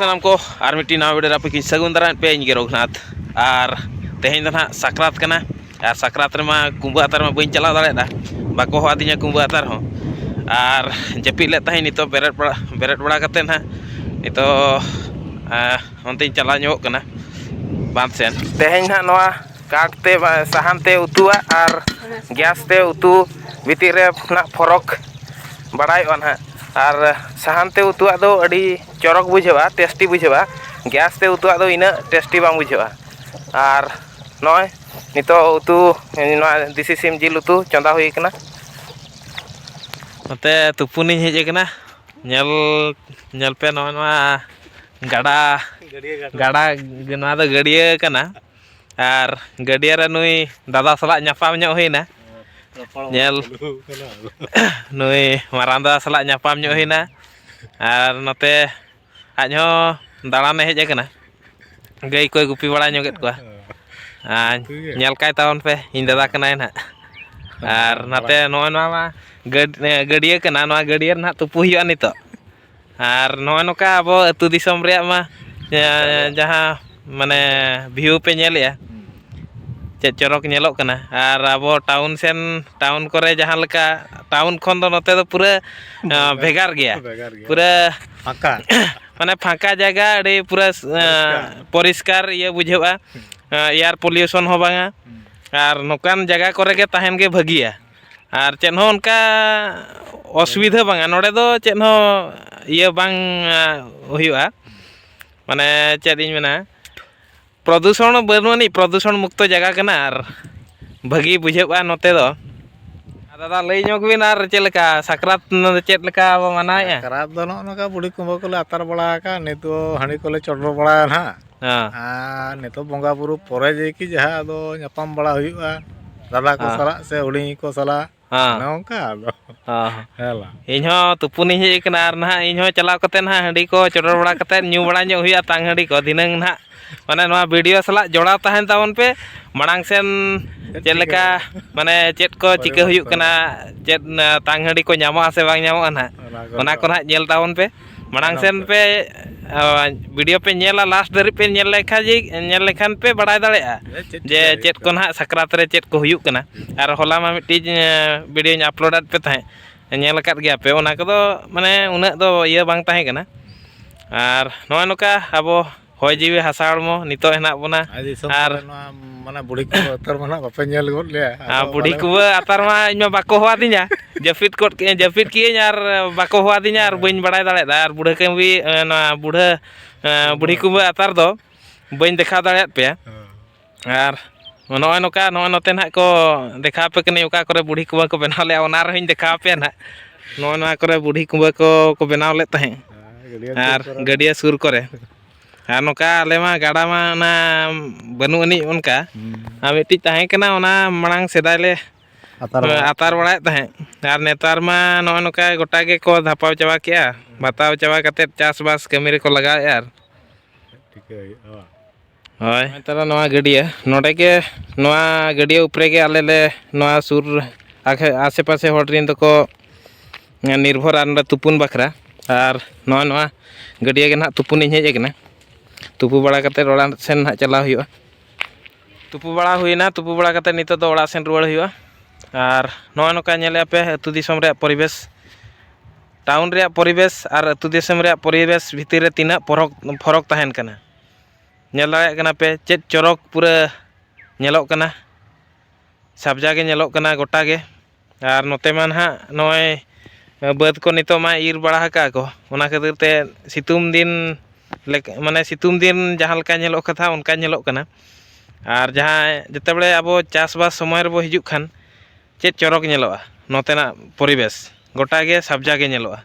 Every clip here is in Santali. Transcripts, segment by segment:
ᱥᱟᱱᱟᱢ ᱠᱚ ᱟᱨ ᱢᱤᱫᱴᱤᱡ ᱱᱟᱣᱟ ᱵᱷᱤᱰᱤᱭᱳ ᱨᱟᱯᱤᱠᱤᱧ ᱥᱟᱹᱜᱩᱱ ᱫᱟᱨᱟᱭᱮᱫ ᱯᱮᱭᱟ ᱤᱧ ᱜᱮ ᱨᱚᱜᱷᱩᱱᱟᱛᱷ ᱟᱨ ᱛᱮᱦᱮᱧ ᱫᱚ ᱱᱟᱦᱟᱜ ᱥᱟᱠᱨᱟᱛ ᱠᱟᱱᱟ ᱟᱨ ᱥᱟᱠᱨᱟᱛ ᱨᱮᱢᱟ ᱠᱩᱢᱵᱟᱹ ᱟᱛᱟᱨ ᱢᱟ ᱵᱟᱹᱧ ᱪᱟᱞᱟᱣ ᱫᱟᱲᱮᱭᱟᱫᱟ ᱵᱟᱠᱚ ᱦᱚᱦᱚ ᱟᱹᱫᱤᱧᱟ ᱠᱩᱢᱵᱟᱹ ᱟᱛᱟᱨ ᱦᱚᱸ ᱟᱨ ᱡᱟᱹᱯᱤᱫ ᱞᱮᱫ ᱛᱟᱦᱮᱸᱫ ᱱᱤᱛᱚᱜ ᱵᱮᱨᱮᱫ ᱵᱟᱲᱟ ᱵᱮᱨᱮᱫ ᱵᱟᱲᱟ ᱠᱟᱛᱮᱫ ᱱᱟᱦᱟᱜ ᱱᱤᱛᱚᱜ ᱚᱱᱛᱮᱧ ᱪᱟᱞᱟᱣ ᱧᱚᱜᱚᱜ ᱠᱟᱱᱟ ᱵᱟᱸᱫᱷ ᱥᱮᱫ ᱛᱮᱦᱮᱧ ᱱᱟᱦᱟᱜ ᱱᱚᱣᱟ ᱠᱟᱴ ᱛᱮ ᱥᱟᱦᱟᱱ ᱛᱮ ᱩᱛᱩᱣᱟᱜ ᱟᱨ ᱜᱮᱥ ᱛᱮ ᱩᱛᱩ ᱵᱷᱤᱛᱤᱨ ᱨᱮ ᱱᱟᱜ ᱯᱷᱚᱨᱚᱠ ᱵᱟᱲᱟᱭᱚᱜᱼᱟ ᱱᱟᱜ ᱟᱨ ᱥᱟᱦᱟᱱ ᱛᱮ ᱩᱛᱩᱣᱟᱜ ᱫᱚ ᱟᱹᱰᱤ ᱪᱚᱨᱚᱠ ᱵᱩᱡᱷᱟᱹᱜᱼᱟ ᱴᱮᱥᱴᱤ ᱵᱩᱡᱷᱟᱹᱜᱼᱟ ᱜᱮᱥ ᱛᱮ ᱩᱛᱩᱣᱟᱜ ᱫᱚ ᱤᱱᱟᱹᱜ ᱴᱮᱥᱴᱤ ᱵᱟᱝ ᱵᱩᱡᱷᱟᱹᱜᱼᱟ ᱟᱨ ᱱᱚᱜᱼᱚᱸᱭ ᱱᱤᱛᱚᱜ ᱩᱛᱩ ᱱᱚᱣᱟ ᱫᱮᱥᱤ ᱥᱤᱢ ᱡᱤᱞ ᱩᱛᱩ ᱪᱚᱸᱫᱟ ᱦᱩᱭ ᱠᱟᱱᱟ ᱱᱚᱛᱮ ᱛᱩᱯᱩᱱᱤᱧ ᱦᱮᱡ ᱠᱟᱱᱟ ᱧᱮᱞ ᱧᱮᱞ ᱯᱮ ᱱᱚᱜᱼᱚᱸᱭ ᱱᱚᱣᱟ ᱜᱟᱰᱟ ᱜᱟᱰᱟ ᱱᱚᱣᱟ ᱫᱚ ᱜᱟᱹᱰᱭᱟᱹ ᱠᱟᱱᱟ ᱟᱨ ᱜᱟᱹᱰᱭᱟᱹ ᱨᱮ ᱱᱩᱭ ᱫᱟᱫᱟ ᱥᱟᱞᱟᱜ ᱧᱟᱯᱟᱢ ᱧᱚᱜ ᱦᱩᱭᱱᱟ ᱧᱮᱞ ᱱᱩᱭ ᱢᱟᱨᱟᱝ ᱫᱟᱫᱟ ᱥᱟᱞᱟᱜ ᱧᱟᱯᱟᱢ ᱧᱚᱜ ᱦᱩᱭᱱᱟ ᱟᱨ ᱱᱚᱛᱮ ᱟᱡ ᱦᱚᱸ ᱫᱟᱬᱟᱱᱮ ᱦᱮᱡ ᱟᱠᱟᱱᱟ ᱜᱟᱹᱭ ᱠᱚᱭ ᱜᱩᱯᱤ ᱵᱟᱲᱟ ᱧᱚᱜᱮᱫ ᱠᱚᱣᱟ ᱟᱨ ᱧᱮᱞ ᱠᱟᱭ ᱛᱟᱵᱚᱱ ᱯᱮ ᱤᱧ ᱫᱟᱫᱟ ᱠᱟᱱᱟᱭ ᱱᱟᱦᱟᱜ ᱟᱨ ᱱᱟᱛᱮ ᱱᱚᱜᱼᱚᱭ ᱱᱚᱣᱟ ᱢᱟ ᱜᱟᱹᱰᱭᱟᱹ ᱠᱟᱱᱟ ᱱᱚᱣᱟ ᱜᱟᱹᱰᱭᱟᱹ ᱨᱮ ᱱᱟᱦᱟᱜ ᱛᱩᱯᱩ ᱦᱩᱭᱩᱜᱼᱟ ᱱᱤᱛᱚᱜ ᱟᱨ ᱱᱚᱜᱼᱚ ᱱᱚᱝᱠᱟ ᱟᱵᱚ ᱟᱹᱛᱩ ᱫᱤᱥᱚᱢ ᱨᱮᱭᱟᱜ ᱢᱟ ᱡᱟᱦᱟᱸ ᱢᱟᱱᱮ ᱵᱷᱤᱭᱩ ᱯᱮ ᱧᱮᱞᱮᱜᱼᱟ ᱪᱮᱫ ᱪᱚᱨᱚᱠ ᱧᱮᱞᱚᱜ ᱠᱟᱱᱟ ᱟᱨ ᱟᱵᱚ ᱴᱟᱣᱩᱱ ᱥᱮᱱ ᱴᱟᱣᱩᱱ ᱠᱚᱨᱮ ᱡᱟᱦᱟᱸ ᱞᱮᱠᱟ ᱴᱟᱣᱩᱱ ᱠᱷᱚᱱ ᱫᱚ ᱱᱚᱛᱮ ᱫᱚ ᱯᱩᱨᱟᱹ ᱵᱷᱮᱜᱟᱨ ᱜᱮᱭᱟ ᱯᱩᱨᱟᱹ ᱯᱷᱟᱸᱠᱟ ᱢᱟᱱᱮ ᱯᱷᱟᱸᱠᱟ ᱡᱟᱭᱜᱟ ᱟᱹᱰᱤ ᱯᱩᱨᱟᱹ ᱯᱚᱨᱤᱥᱠᱟᱨ ᱤᱭᱟᱹ ᱵᱩᱡᱷᱟᱹᱜᱼᱟ ᱮᱭᱟᱨ ᱯᱚᱞᱤᱭᱩᱥᱚᱱ ᱦᱚᱸ ᱵᱟᱝᱟ ᱟᱨ ᱱᱚᱝᱠᱟᱱ ᱡᱟᱭᱜᱟ ᱠᱚᱨᱮ ᱜᱮ ᱛᱟᱦᱮᱱ ᱜᱮ ᱵᱷᱟᱹᱜᱤᱭᱟ ᱟᱨ ᱪᱮᱫ ᱦᱚᱸ ᱚᱱᱠᱟ ᱚᱥᱩᱵᱤᱫᱷᱟ ᱵᱟᱝᱟ ᱱᱚᱰᱮ ᱫᱚ ᱪᱮᱫ ᱦᱚᱸ ᱤᱭᱟᱹ ᱵᱟᱝ ᱦᱩᱭᱩᱜᱼᱟ ᱢᱟᱱᱮ ᱪᱮᱫ ᱤᱧ ᱢᱮᱱᱟ ᱯᱨᱚᱫᱩᱥᱚᱱ ᱦᱚᱸ ᱵᱟᱹᱱᱩᱜ ᱟᱹᱱᱤᱡ ᱯᱨᱚᱫᱩᱥᱚᱱ ᱢᱩᱠᱛᱚ ᱡᱟᱭᱜᱟ ᱠᱟᱱᱟ ᱟᱨ ᱵᱷᱟᱹᱜᱤ ᱵᱩᱡᱷᱟᱹᱜᱼᱟ ᱱᱚᱛᱮ ᱫᱚ ᱫᱟᱫᱟ ᱞᱟᱹᱭ ᱧᱚᱜᱽ ᱵᱤᱱ ᱟᱨ ᱪᱮᱫ ᱞᱮᱠᱟ ᱥᱟᱠᱨᱟᱛ ᱪᱮᱫ ᱞᱮᱠᱟ ᱵᱚᱱ ᱢᱟᱱᱟᱣᱮᱜᱼᱟ ᱥᱟᱠᱨᱟᱛ ᱫᱚ ᱱᱚᱜᱼᱚ ᱱᱚᱝᱠᱟ ᱵᱩᱰᱷᱤ ᱠᱩᱢᱵᱟᱹ ᱠᱚᱞᱮ ᱟᱛᱟᱨ ᱵᱟᱲᱟ ᱟᱠᱟᱫᱼᱟ ᱱᱤᱛ ᱫᱚ ᱦᱟᱺᱰᱤ ᱠᱚᱞᱮ ᱪᱚᱰᱚᱨ ᱵᱟᱲᱟᱭᱟ ᱦᱟᱸᱜ ᱦᱮᱸ ᱟᱨ ᱱᱤᱛᱚᱜ ᱵᱚᱸᱜᱟ ᱵᱩᱨᱩ ᱯᱚᱨᱮ ᱡᱮᱠᱤ ᱡᱟᱦᱟᱸ ᱟᱫᱚ ᱧᱟᱯᱟᱢ ᱵᱟᱲᱟ ᱦᱩᱭᱩᱜᱼᱟ ᱫᱟᱫᱟ ᱠᱚ ᱦᱮᱸ ᱥᱟᱞᱟᱜ ᱥᱮ ᱦᱩᱰᱤᱧ ᱠᱚ ᱥᱟᱞᱟᱜ ᱦᱮᱸ ᱚᱱᱮ ᱚᱱᱠᱟ ᱟᱫᱚ ᱦᱮᱸ ᱦᱮᱸ ᱵᱟᱝ ᱤᱧ ᱦᱚᱸ ᱛᱩᱯᱩᱱᱤᱧ ᱦᱮᱡ ᱟᱠᱟᱱᱟ ᱟᱨ ᱱᱟᱦᱟᱜ ᱤᱧ ᱦᱚᱸ ᱪᱟᱞᱟᱣ ᱠᱟᱛᱮᱫ ᱱᱟᱦᱟᱜ ᱦᱟᱺᱰᱤ ᱠᱚ ᱪᱚᱰᱚᱨ ᱵᱟᱲᱟ ᱠᱟᱛᱮᱫ ᱧᱩ ᱵᱟᱲᱟ ᱧᱚᱜ ᱦᱩᱭᱩᱜᱼᱟ ᱛᱟᱝ ᱦᱟᱺᱰᱤ ᱠᱚ ᱫᱷᱤᱱᱟᱹᱝ ᱱᱟᱦᱟᱜ ᱢᱟᱱᱮ ᱱᱚᱣᱟ ᱵᱷᱤᱰᱤᱭᱳ ᱥᱟᱞᱟᱜ ᱡᱚᱲᱟᱣ ᱛᱟᱦᱮᱱ ᱛᱟᱵᱚᱱ ᱯᱮ ᱢᱟᱲᱟᱝ ᱥᱮᱱ ᱪᱮᱫ ᱞᱮᱠᱟ ᱢᱟᱱᱮ ᱪᱮᱫ ᱠᱚ ᱪᱤᱠᱟᱹ ᱦᱩᱭᱩᱜ ᱯᱚᱨᱤᱵᱚᱨᱛᱚᱱᱚᱜᱼᱟ ᱠᱟᱱᱟ ᱪᱮᱫ ᱛᱟᱝ ᱦᱟᱺᱰᱤ ᱠᱚ ᱧᱟᱢᱚᱜᱼᱟ ᱥᱮ ᱵᱟᱝ ᱧᱟᱢᱚᱜᱼᱟ ᱱᱟᱦᱟᱜ ᱚᱱᱟ ᱠᱚ ᱱᱟᱦᱟᱜ ᱧᱮᱞ ᱛᱟᱵᱚᱱ ᱯᱮ ᱢᱟᱲᱟᱝ ᱥᱮᱱ ᱯᱮ ᱵᱷᱤᱰᱤᱭᱳ ᱯᱮ ᱧᱮᱞᱟ ᱞᱟᱥᱴ ᱫᱷᱟᱹᱨᱤᱡ ᱯᱮ ᱧᱮᱞ ᱞᱮᱠᱷᱟᱱ ᱡᱮ ᱧᱮᱞ ᱞᱮᱠᱷᱟᱱ ᱯᱮ ᱵᱟᱲᱟᱭ ᱫᱟᱲᱮᱭᱟᱜᱼᱟ ᱡᱮ ᱪᱮᱫ ᱠᱚ ᱱᱟᱦᱟᱜ ᱥᱟᱠᱨᱟᱛ ᱨᱮ ᱪᱮᱫ ᱠᱚ ᱦᱩᱭᱩᱜ ᱠᱟᱱᱟ ᱟᱨ ᱦᱚᱞᱟ ᱢᱟ ᱢᱤᱫᱴᱤᱡ ᱵᱷᱤᱰᱤᱭᱳᱧ ᱟᱯᱞᱳᱰ ᱟᱫ ᱯᱮ ᱛᱟᱦᱮᱸᱫ ᱧᱮᱞ ᱟᱠᱟᱫ ᱜᱮᱭᱟ ᱯᱮ ᱚᱱᱟ ᱠᱚᱫᱚ ᱢᱟᱱᱮ ᱩᱱᱟᱹᱜ ᱫᱚ ᱤᱭᱟᱹ ᱵᱟᱝ ᱛᱟᱦᱮᱸ ᱠᱟᱱᱟ ᱟᱨ ᱱᱚᱜᱼᱚᱸᱭ ᱱᱚᱝᱠᱟ ᱟᱵᱚ ᱦᱚᱭ ᱡᱤᱣᱤ ᱦᱟᱥᱟ ᱦᱚᱲᱢᱚ ᱱᱤᱛᱚᱜ ᱦᱮᱱᱟᱜ ᱵᱚᱱᱟ ᱟᱨ ᱢᱟᱱᱮ ᱵᱩᱲᱦᱤ ᱠᱚ ᱟᱛᱟᱨ ᱢᱟ ᱱᱟᱜ ᱵᱟᱯᱮ ᱧᱮᱞ ᱜᱚᱫ ᱞᱮᱭᱟ ᱟᱨ ᱵᱩᱲᱦᱤ ᱠᱚ ᱟᱛᱟᱨ ᱢᱟ ᱤᱧ ᱢᱟ ᱵᱟᱠᱚ ᱦᱚᱣᱟᱫᱤᱧᱟ ᱡᱟᱹᱯᱤᱫ ᱠᱚᱫ ᱠᱮᱜᱼᱟᱹᱧ ᱡᱟᱹᱯᱤᱫ ᱠᱮᱜᱼᱟᱹᱧ ᱟᱨ ᱵᱟᱠᱚ ᱦᱚᱣᱟᱫᱤᱧᱟ ᱟᱨ ᱵᱟᱹᱧ ᱵᱟᱲᱟᱭ ᱫᱟᱲᱮᱭᱟᱫᱟ ᱟᱨ ᱵᱩᱲᱦᱟᱹ ᱠᱟᱹᱢᱵᱤ ᱱᱚᱣᱟ ᱵᱩᱲᱦᱟᱹ ᱵᱩᱲᱦᱤ ᱠᱩᱢᱵᱟᱹ ᱟᱛᱟᱨ ᱫᱚ ᱵᱟᱹᱧ ᱫᱮᱠᱷᱟᱣ ᱫᱟᱲᱮᱭᱟᱫ ᱯᱮᱭᱟ ᱟᱨ ᱱᱚᱜᱼᱚᱸᱭ ᱱᱚᱝᱠᱟ ᱱᱚᱜᱼᱚᱸᱭ ᱱᱚᱛᱮ ᱱᱟᱦᱟᱜ ᱠᱚ ᱫᱮᱠᱷᱟᱣ ᱟᱯᱮ ᱠᱟᱹᱱᱟᱹᱧ ᱚᱠᱟ ᱠᱚᱨᱮ ᱵᱩᱲᱦᱤ ᱠᱩᱢᱵᱟᱹ ᱠᱚ ᱵᱮᱱᱟᱣ ᱞᱮᱜᱼᱟ ᱚᱱᱟ ᱨᱮᱦᱚᱸᱧ ᱫᱮᱠᱷᱟᱣ ᱟᱯᱮᱭᱟ ᱱᱟᱦᱟᱜ ᱱᱚᱜᱼᱚᱸᱭ ᱱᱚᱣᱟ ᱠᱚᱨᱮᱜ ᱵᱩᱲᱦᱤ ᱠᱩᱢᱵᱟᱹ ᱠᱚ ᱠᱚ ᱵᱮᱱᱟᱣ ᱞᱮᱜ ᱛᱟᱦᱮᱸᱜ ᱟᱨ ᱜᱟᱹᱰᱭᱟᱹ ᱥᱩᱨ ᱠᱚᱨᱮ ᱟᱨ ᱱᱚᱝᱠᱟ ᱟᱞᱮ ᱢᱟ ᱜᱟᱰᱟ ᱢᱟ ᱚᱱᱟ ᱵᱟᱹᱱᱩᱜ ᱟᱹᱱᱤᱡ ᱚᱱᱠᱟ ᱟᱨ ᱢᱤᱫᱴᱤᱡ ᱛᱟᱦᱮᱸ ᱠᱟᱱᱟ ᱚᱱᱟ ᱢᱟᱲᱟᱝ ᱥᱮᱫᱟᱭ ᱞᱮ ᱟᱛᱟᱨ ᱵᱟᱲᱟᱭᱮᱜ ᱛᱟᱦᱮᱸᱜ ᱟᱨ ᱱᱮᱛᱟᱨ ᱢᱟ ᱱᱚᱜᱼᱚᱸᱭ ᱱᱚᱝᱠᱟ ᱜᱚᱴᱟ ᱜᱮᱠᱚ ᱫᱷᱟᱯᱟᱣ ᱪᱟᱵᱟ ᱠᱮᱜᱼᱟ ᱵᱟᱛᱟᱣ ᱪᱟᱵᱟ ᱠᱟᱛᱮ ᱪᱟᱥᱵᱟᱥ ᱠᱟᱹᱢᱤ ᱨᱮᱠᱚ ᱞᱟᱜᱟᱣᱮᱜᱼᱟ ᱴᱷᱤᱠᱟᱹ ᱦᱩᱭᱩᱜᱼᱟ ᱵᱟᱝ ᱦᱳᱭ ᱱᱮᱛᱟᱨ ᱱᱚᱣᱟ ᱜᱟᱹᱰᱭᱟᱹ ᱱᱚᱰᱮ ᱜᱮ ᱱᱚᱣᱟ ᱜᱟᱹᱰᱭᱟᱹ ᱩᱯᱨᱮ ᱜᱮ ᱟᱞᱮ ᱞᱮ ᱱᱚᱣᱟ ᱥᱩᱨ ᱟᱥᱮ ᱯᱟᱥᱮ ᱦᱚᱲ ᱨᱮᱱ ᱫᱚᱠᱚ ᱱᱤᱨᱵᱷᱚᱨᱟ ᱱᱚᱰᱮ ᱛᱩᱯᱩᱱ ᱵᱟᱠᱷᱨᱟ ᱟᱨ ᱱᱚᱣᱟ ᱱᱚᱣᱟ ᱜᱟᱹᱰᱭᱟᱹ ᱜᱮ ᱱᱟᱦᱟᱜ ᱛᱩᱯᱩᱱ ᱤᱧ ᱦᱮᱡ ᱠᱟᱱᱟ ᱛᱩᱯᱩ ᱵᱟᱲᱟ ᱠᱟᱛᱮᱫ ᱚᱲᱟᱜ ᱥᱮᱱ ᱱᱟᱦᱟᱜ ᱪᱟᱞᱟᱣ ᱦᱩᱭᱩᱜᱼᱟ ᱛᱩᱯᱩ ᱵᱟᱲᱟ ᱦᱩᱭᱱᱟ ᱛᱩᱯᱩ ᱵᱟᱲᱟ ᱠᱟᱛᱮᱫ ᱱᱤᱛᱚᱜ ᱫᱚ ᱚᱲᱟᱜ ᱥᱮᱱ ᱨᱩᱣᱟᱹᱲ ᱦᱩᱭᱩᱜᱼᱟ ᱟᱨ ᱱᱚᱜᱼᱚᱸᱭ ᱱᱚᱝᱠᱟ ᱧᱮᱞᱮᱫᱼᱟ ᱯᱮ ᱟᱹᱛᱩ ᱫᱤᱥᱚᱢ ᱨᱮᱭᱟᱜ ᱯᱚᱨᱤᱵᱮᱥ ᱴᱟᱣᱩᱱ ᱨᱮᱭᱟᱜ ᱯᱚᱨᱤᱵᱮᱥ ᱟᱨ ᱟᱹᱛᱩ ᱫᱤᱥᱚᱢ ᱨᱮᱭᱟᱜ ᱯᱚᱨᱤᱵᱮᱥ ᱵᱷᱤᱛᱤᱨ ᱨᱮ ᱛᱤᱱᱟᱹᱜ ᱯᱷᱚᱨᱚᱠ ᱯᱷᱚᱨᱚᱠ ᱛᱟᱦᱮᱱ ᱠᱟᱱᱟ ᱧᱮᱞ ᱫᱟᱲᱮᱭᱟᱜ ᱠᱟᱱᱟ ᱯᱮ ᱪᱮᱫ ᱪᱚᱨᱚᱠ ᱯᱩᱨᱟᱹ ᱧᱮᱞᱚᱜ ᱠᱟᱱᱟ ᱥᱟᱵᱡᱟ ᱜᱮ ᱧᱮᱞᱚᱜ ᱠᱟᱱᱟ ᱜᱚᱴᱟ ᱜᱮ ᱟᱨ ᱱᱚᱛᱮ ᱢᱟ ᱱᱟᱦᱟᱜ ᱱᱚᱜᱼᱚᱭ ᱵᱟᱹᱫᱽ ᱠᱚ ᱱᱤᱛᱚᱜ ᱢᱟ ᱤᱨ ᱵᱟᱲᱟ ᱟᱠᱟᱫ ᱟᱠᱚ ᱚᱱᱟ ᱠᱷᱟᱹᱛᱤᱨ ᱛᱮ ᱥᱤᱛᱩᱝ ᱫᱤᱱ ᱢᱟᱱᱮ ᱥᱤᱛᱩᱝ ᱫᱤᱱ ᱡᱟᱦᱟᱸ ᱞᱮᱠᱟ ᱧᱮᱞᱚᱜ ᱠᱟᱛᱷᱟ ᱚᱱᱠᱟ ᱧᱮᱞᱚᱜ ᱠᱟᱱᱟ ᱟᱨ ᱡᱟᱦᱟᱸ ᱡᱮᱛᱮ ᱵᱟᱲᱮ ᱟᱵᱚ ᱪᱟᱥᱵᱟᱥ ᱥᱚᱢᱚᱭ ᱨᱮᱵᱚ ᱦᱤᱡᱩᱜ ᱠᱷᱟᱱ ᱪᱮᱫ ᱪᱚᱨᱚᱠ ᱧᱮᱞᱚᱜᱼᱟ ᱱᱚᱛᱮᱱᱟᱜ ᱯᱚᱨᱤᱵᱮᱥ ᱜᱚᱴᱟᱜᱮ ᱥᱟᱵᱡᱟ ᱜᱮ ᱧᱮᱞᱚᱜᱼᱟ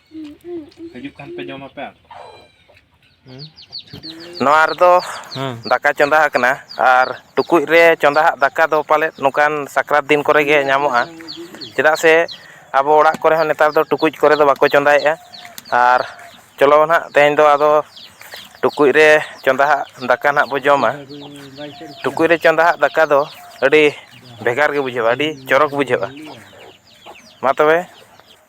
ᱦᱤᱡᱩᱜ ᱠᱷᱟᱱ ᱯᱮ ᱡᱚᱢ ᱟᱯᱮ ᱱᱚᱣᱟ ᱨᱮᱫᱚ ᱫᱟᱠᱟ ᱪᱚᱸᱫᱟ ᱟᱠᱟᱱᱟ ᱟᱨ ᱴᱩᱠᱩᱡ ᱨᱮ ᱪᱚᱸᱫᱟ ᱟᱜ ᱫᱟᱠᱟ ᱫᱚ ᱯᱟᱞᱮᱫ ᱱᱚᱝᱠᱟᱱ ᱥᱟᱠᱨᱟᱛ ᱫᱤᱱ ᱠᱚᱨᱮ ᱜᱮ ᱧᱟᱢᱚᱜᱼᱟ ᱪᱮᱫᱟᱜ ᱥᱮ ᱟᱵᱚ ᱚᱲᱟᱜ ᱠᱚᱨᱮ ᱦᱚᱸ ᱱᱮᱛᱟᱨ ᱫᱚ ᱴᱩᱠᱩᱡ ᱠᱚᱨᱮ ᱫᱚ ᱵᱟᱠᱚ ᱪᱚᱸᱫᱟᱭᱮᱜᱼᱟ ᱟᱨ ᱪᱚᱞᱚ ᱱᱟᱦᱟᱜ ᱛᱮᱦᱮᱧ ᱫᱚ ᱟᱫᱚ ᱴᱩᱠᱩᱡ ᱨᱮ ᱪᱚᱸᱫᱟ ᱟᱜ ᱫᱟᱠᱟ ᱱᱟᱦᱟᱜ ᱵᱚᱱ ᱡᱚᱢᱟ ᱴᱩᱠᱩᱡ ᱨᱮ ᱪᱚᱸᱫᱟ ᱟᱜ ᱫᱟᱠᱟ ᱫᱚ ᱟᱹᱰᱤ ᱵᱷᱮᱜᱟᱨ ᱜᱮ ᱵᱩᱡᱷᱟᱹᱜᱼᱟ ᱟᱹᱰᱤ ᱪᱚᱨᱚᱠ ᱵᱩᱡᱷᱟᱹᱜᱼᱟ ᱢᱟ ᱛᱚᱵᱮ